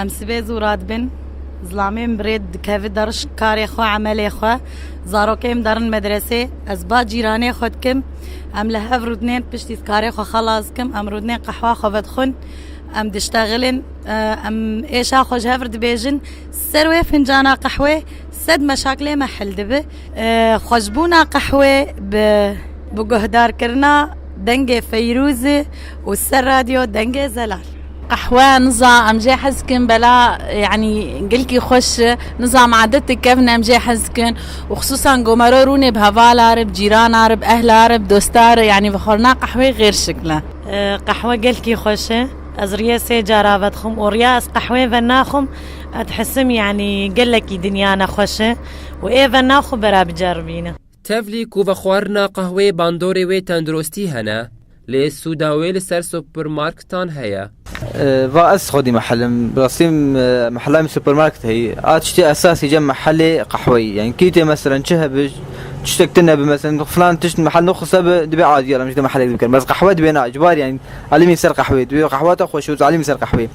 Em sibê zû radibin. Zilamê min bi rê dikeve der ji karê xwe, emelê xwe. Zarokê min derin medresê. Ez ba cîranê xwe dikim. Em li hev rûdinên piştî karê xwe xelas dikim. Em rûdinên qehwa xwe vedixwin. Em diştexilin. Em êşa xwe ji hev re dibêjin. Ser wê fincana qehwê sed meşakilê me hil dibe. Xweşbûna qehwê bi guhdarkirina dengê Feyrûzê û ser radyo dengê Zelal. Qehwe niza em jê hez dikin bela yanî gilkî xweş e. Niza me edetek kevn em jê hez dikin û xisûsan gomero rûnê bi hevala re, bi cîrana re, bi ehla re, bi dosta re yanî bi xwarina qehweyê xêr şikil e. Qehwe gelkî xweş e. Ez rîyê sê car a vedixwim û rîya ez qehweyê venaxwim edhisim yanî gelekî dinya ne xweş e û ê vena xwe bera biceribîne. Tevlî ku vexwarina qehweyê bandorê wê tenduristî hene, lê sûda wê li ser supermarketan heye. Va ez xwedî mehelim bi rastî mehela min supermarket heyî. A tiştê esasî cem mehelê qehweyî ye. Hinkî tê meselen çi hebe tiştek tune bi meselen filan tişt mehel nixwise bi dibê adî alim ji te mehelek dibikerim. Bes qehwe dibê na ji bar yanî alimî ser qehweyê dibê qehwa te xweş û tu alimî ser qehweyê.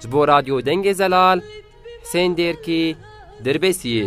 Ji bo Radyo Dengê Zelal, Husên Dêrkî, Dirbêsiyê.